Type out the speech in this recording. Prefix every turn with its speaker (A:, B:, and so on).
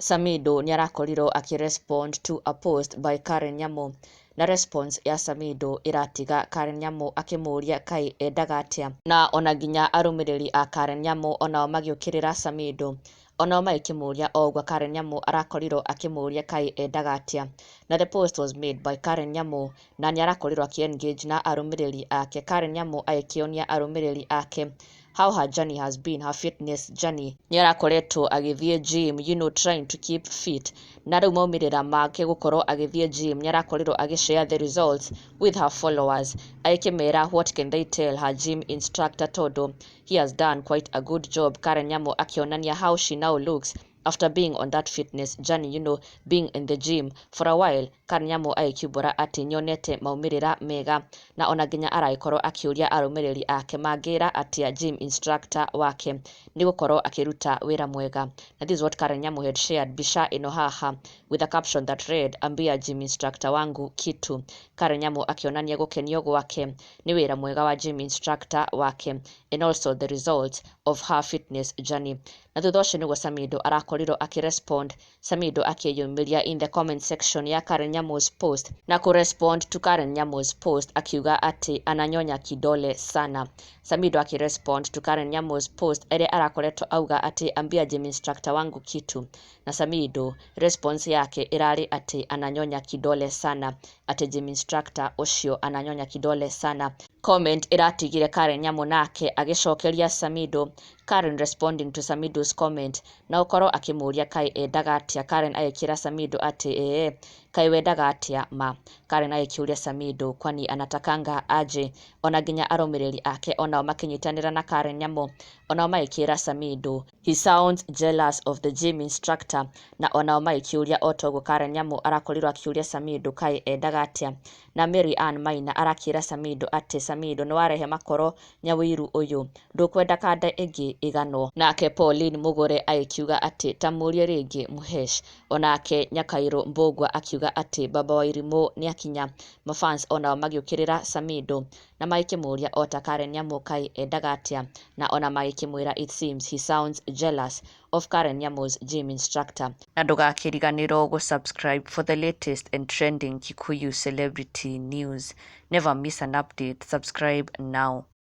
A: Samido nĩarakorirwo akĩ respond to a post by Karen Nyamu na response ya Samido ĩratiga Karen Nyamu akĩmũria kaĩ endaga atĩa na ona nginya arũmĩrĩri a Karen Nyamu onao magĩũkĩrĩra Samido Onao magĩkĩmũria o ũguo Karen Nyamu arakorirwo akĩmũria kaĩ endaga atĩa. Na the post was made by Karen Nyamu na nĩ arakorirwo akĩ engage na arũmĩrĩri ake. Karen Nyamu agĩkĩonia arũmĩrĩri ake how her journey has been, her fitness journey. Nĩ arakoretwo agĩthiĩ gym, you know trying to keep fit. Na rĩu maumĩrĩra make gũkorwo agĩthiĩ gym nĩ arakorirwo agĩ share the results with her followers. Agĩkĩmera what can they tell her gym instructor tondũ He has done quite a good job Karen Nyamo akionania how she now looks after being on that fitness journey you know being in the gym for a while Karen Nyamo agĩkiumbũra atĩ nyonete maumĩrĩra mega na ona nginya aragĩkorwo akĩũria arũmĩrĩri ake mangĩra atĩa gym instructor wake nĩ gũkorwo akĩruta wĩra mwega na this is what Karen Nyamo had shared mbica ĩno haha with a caption that read ambia gym instructor wangu kitu Karen Nyamo akĩonania gũkenio gwake Nĩ wĩra mwega wa gym instructor wake and also the results of her fitness journey. Na thutha ũcio nĩguo Samido arakorirwo akĩ respond, Samido akĩyumĩria in the comment section ya Karen Nyamu's post na kũ respond to Karen Nyamu's post akiuga atĩ ananyonya kidole sana. Samido akĩ respond to Karen Nyamu's post ĩrĩa arakoretwo auga atĩ ambia gym instructor wangu kitu. Na Samido, response yake ĩrarĩ atĩ ananyonya kidole sana, atĩ gym instructor ũcio ananyonya kidole sana. Comment ĩratigire Karen Nyamũ nake agĩcokeria Samido, Karen responding to Samido's comment, na gũkorwo akĩmũria kaĩ endaga atĩa, Karen agĩkĩra Samido atĩ ee, kaĩ wendaga atĩa ma? Karen agĩkĩũria Samido, kwani anatakanga aje? Ona nginya arũmĩrĩri ake onao makĩnyitanĩra na Karen Nyamũ, onao magĩkĩra Samido, He sounds jealous of the gym instructor na onao magĩkĩũria o ta ũguo Karen Nyamu arakorirwo akĩũria Samiyu Ndukai endaga atĩa na Mary Ann Maina arakĩra Samido atĩ Samido nĩwarehe makoro nyawiru ũyũ ndũkwenda kanda ĩngĩ ĩganwo. Nake Pauline Mugure agĩkiuga atĩ ta mũrie rĩngĩ Muhesh. Onake Nyakairũ Mbũgua akiuga atĩ Baba Wairimũ nĩakinya. Mafans onao magĩũkĩrĩra Samido. Na magĩkĩmũũria, O ta Karen Nyamu-kaĩ, endaga atĩa? Na o na magĩkĩmwĩra, It seems he sounds jealous of Karen Nyamu's gym instructor. Na ndũgakĩriganĩrwo gũ subscribe for the latest and trending Kikuyu celebrity news. Never miss an update, subscribe now.